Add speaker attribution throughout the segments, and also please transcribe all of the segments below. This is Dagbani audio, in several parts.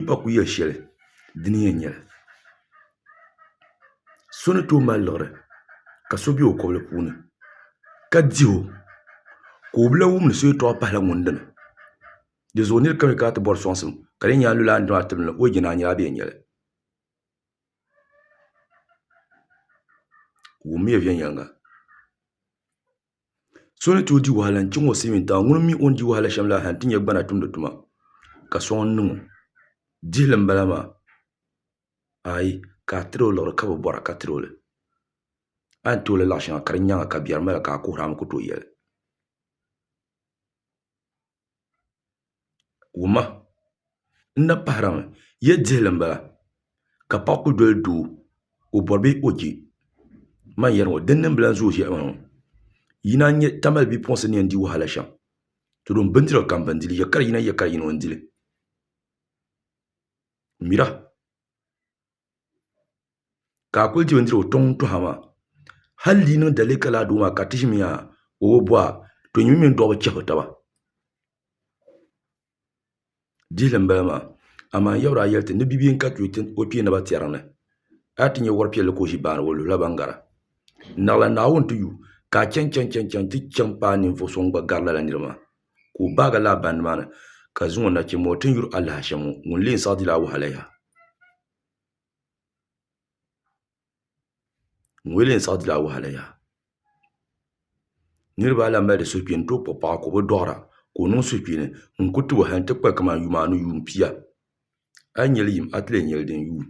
Speaker 1: n ba ku yɛ shɛli di ni yɛn nyɛli so ni tooi mali liɣiri ka so bɛ o kobili puuni ka diho ka o bi lahi wum ni so yɛltɔɣa pahila ŋun dini dizuɣu nira kam yɛli kana ti bɔri sɔŋsim ka di yɛn nyɛ a ni lula a ni dɔɣi tibili na o yɛn jɛ ni a nyɛla a bɛ yɛn nyɛli wummiya viɛnyɛliŋga So ni tooi di wahala n chɛŋ o silmiin tiŋa ŋuni mii o ni di wahala shɛm la ha n ti nyɛ gbana tumdi tuma ka soŋ n niŋo dihili n bala maa aai ka a tiri o liɣiri ka bi bora ka tiri o li a ni tooi lahi laɣa shɛŋa ka di nyɛŋa ka biɛri mala ka a kuhurimi ku tooi yɛli wuma n na pahirimi ya dihili m-bala ka paɣa kuli doli doo ka o bɔri bee ka o je m a ni yɛri ŋɔ din niŋ bilan zooi shɛli m-bala yi naan nya tamali bipuɣinsi ni yɛn di wahala shɛm to din bindira kam bɛ ni dili yakari yina yakari yina o ni dili mira ka a kuli di bindirigu tiŋ n toha maa hali di yi niŋ dali ka laa doo maa ka ti ʒimi yaa o bi bo a to nyini mini doo bi chɛbiri taba dihili n bala maa amaa n yabraa yɛli ti ni bia ka chɛ o kpee naba tiɛri ni a ni ti nyɛ wuhiri piɛlli ka o ʒi baani o luhula ban gara naɣila naawuni ti yu ka a chɛŋ chɛŋ ti chɛŋ paai ninvuɣu so ŋun gba gari lala nira maa ka o baagi laa baŋ nimaani ka zaŋ o nachimbi ŋɔ ti yuri alahachi ŋɔ ŋun lee saɣi dila wahala yaha niraba ayi lahi mali di suhupiini n tooi kpuɣi paɣa ka o bi doɣara ka o niŋ suhupiini n ku tiba hali n ti kpali kamani yuumaanu yuun pia a yi nyɛli yim a ti lee nyɛli din yuui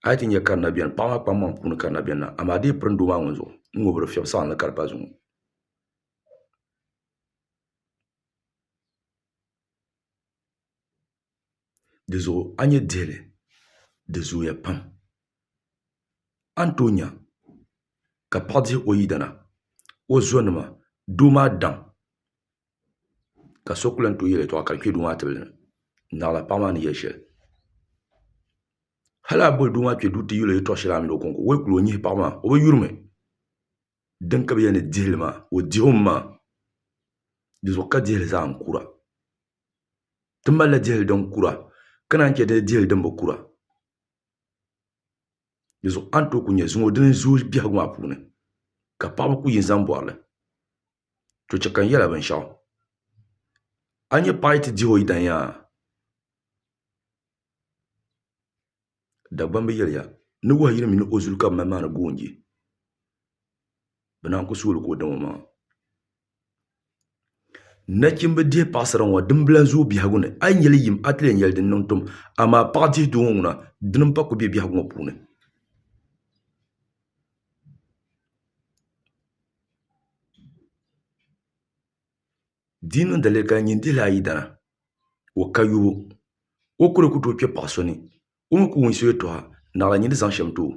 Speaker 1: A yi ti nyɛ karina biɛni paɣa maa kpaŋmaŋ puuni karina biɛni na amaa a dii pirim doo maa ŋun zuɣu n ŋɔ bi di fiɛbi saɣam ni ka di pa zuŋɔ dizuɣu a ni nyɛ dihili di zooya pam a ni tooi nya ka paɣa dihi o yidana o zonima doo maa daŋ ka so ku lahi tooi yɛli yɛltɔɣa ka di kpɛ doo maa tibili ni naɣila paɣa maa ni yɛli shɛli hali a boli doo maa kpɛ duu ti yɛlo yɛltɔɣa shɛli a mini o konko o yi kuli o nyihi paɣa maa o bi yurimi din ka bi yɛli ni dihili maa o dihimi maa dizuɣu ka dihili zaa n kura ti malila dihili din kura ka naan chɛ dini dihili din bi kura dizuɣu a ni tooi ku nyɛ zuŋɔ dini zooi biɛhagu maa puuni ka paɣaba ku yi n zaŋ bori li to chɛ ka n yɛli a binshɛɣu a ni nyɛ paɣ yɛn ti dihi o yidana Dagbamb yɛliya ni wahu yini mini o zuli ka bɛ mali maa ni goonji bɛ naan ku suui li ka o dam omaŋa nachimba dihi paɣisira ŋɔ dimbila n-zooi biɛhigu ni a yi nya li yim a ti lee nya li din niŋ tum amaa paɣ dihi doo ŋɔ ŋuna dini m-pa ku be biɛhigu ŋɔ puuni Di yi niŋ daliya ka n nyin dihili ayi dana, o ka yubu. O kuli ku tooi kpe paɣ so ni o mi ku wum so yɛtɔɣa, naɣila nyin di zaŋ shɛm ti o.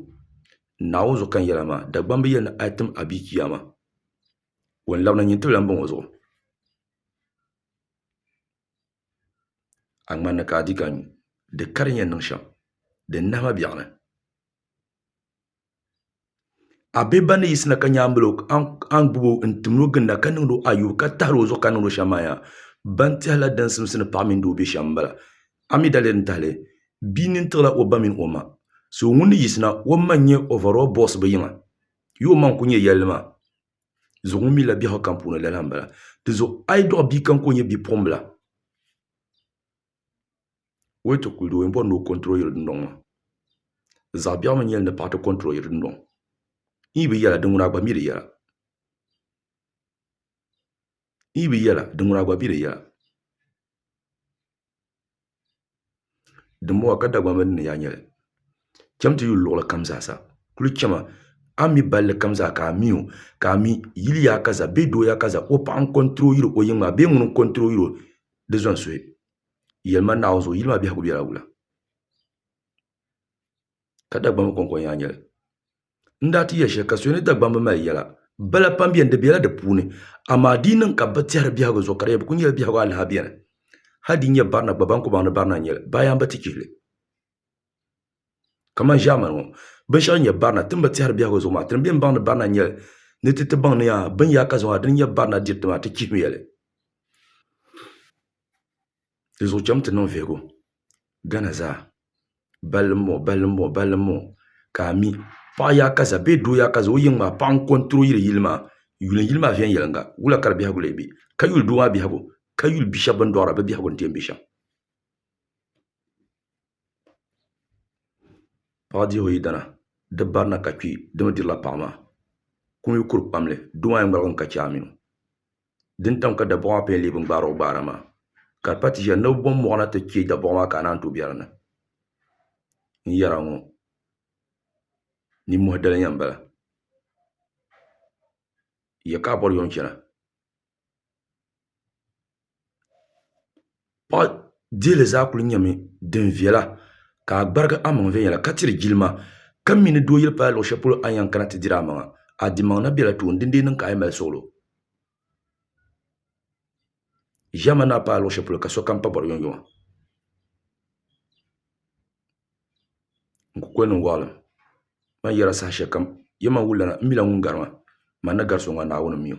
Speaker 1: Naawuni zuɣu ka n yɛra maa, Dagbamba bi yɛli ni a yi tim a bia Chiyaama, o ni labina nyin tibila m-bɔŋɔ zuɣu. A ŋmanni ka a di ka nyu, di ka di ni yɛn niŋ shɛm, di nahi ma biɛɣuni. a bihi ban ni yiɣisi na ka nyaŋ n-mali o a ni gbubi o n-tim ni o ginda ka niŋdi o ayubu ka tahiri o zuɣu ka niŋdi o shɛm maa yaha ban tɛhi la din simsi ni paɣa mini doo be shɛm m-bala a mi dali n-tahi li bia nini tiɣi la o ba mini o ma so ŋun ni yiɣisi na o ma n-nyɛ overall boss bɛ yiŋa yi o ma n-kuli nyɛ yɛlli maa zuɣu ŋun mi la biɛhigu kam puuni lala m-bala di zuɣu a yi dɔɣi bia kam ka o nyɛ bipuɣimbila Wai ti kuli di o yɛn bɔri ni o control yiri dundɔŋ maa zaɣi biɛɣu mi nyɛli ni paɣa ti control yiri dundɔŋ n yi bi yɛla di ŋuna gba mi di yɛla n yi bi yɛla di ŋuna gba mi di yɛla din bɔŋɔ ka Dagbaŋ mi di ni yaa nyɛli cham ti yuli luɣuli kam zaa sa kuli chama a mi balli kam zaa ka a mi o ka a mi yili yaa kaza bee doo yaa kaza o paɣa n control yiri o yiŋa maa bee ŋuni n control yiri o Di zɔnsoya, yɛlima Naawuni zuɣu yili maa biɛhigu bela wula? Ka Dagbamba kɔŋko nyaa nyɛli? N daa ti yɛli shɛli ka so ni Dagbamba mali yɛla bala pam beni, di bela di puuni, amaa di yi niŋ ka bɛ bi tɛhiri biɛhigu zuɣu ka di yɛn bi kuli nyɛla biɛhigu alaha beni. Hal din nyɛ Barina gba, Bankɔbaŋ ni Barina n-nyɛ li, Bayaamba ti chihi li. kamani ʒaamani ŋɔ binshɛɣu din nyɛ barina ti ni bi tɛhiri biɛhigu zuɣu maa ti ni bɛ ni baŋdi barina n nyɛli ni ti ti baŋ ni yaa bini yaa ka zuŋɔ din nyɛ barina diriti maa ti chihimiya li di zuɣu chɛmi ti niŋ viɛhigu gana zaa balli n bɔŋɔ balli n bɔŋɔ balli n bɔŋɔ ka a mi paɣa yaɣa ka ʒɛ bee doo yaɣa ka ʒɛ o yiŋ maa paɣa n kɔntiro yili yili maa yulim yili maa viɛnyɛlinga wula ka di biɛhigu lee bɛ ka yuli doo maa biɛhigu ka yuli bia shab bin doɣara bi biɛhigu n ti yɛn bɛ shɛm Paɣa dirigu yidana di barina ka kpi dimi dirila paɣa maa kum yi kuri kpamli doo maa yɛn ŋmaligimi ka che amii dini tam ka daboɣu maa pun lee bi ŋmaari o gbaara maa ka di pa ti ʒiya ni bi bom moɣu na ti che daboɣu maa ka a naan tooi be dinni n yɛra ŋɔ ninmohi daliya m bala ya ka a bori yom chana. Paɣa diili zaa kuli nyɛmi din viɛla ka a gbarigi amaŋ viɛnyɛla ka tiri jilima ka mi ni doo yuli paai luɣu shɛli polo a ni yɛn kana ti diri amaŋa a dimaŋ na biɛla tooni din dii niŋ ka a yi mali suɣulo ʒiɛma ni a paai luɣu shɛli polo ka sokam pa bɔri yomyoma n ku kuli niŋ waɣilim ma ni yɛra saha shɛli kam ya man wulila na m mila ŋun gari ma man ni gari so ŋɔ Naawuni m mi o.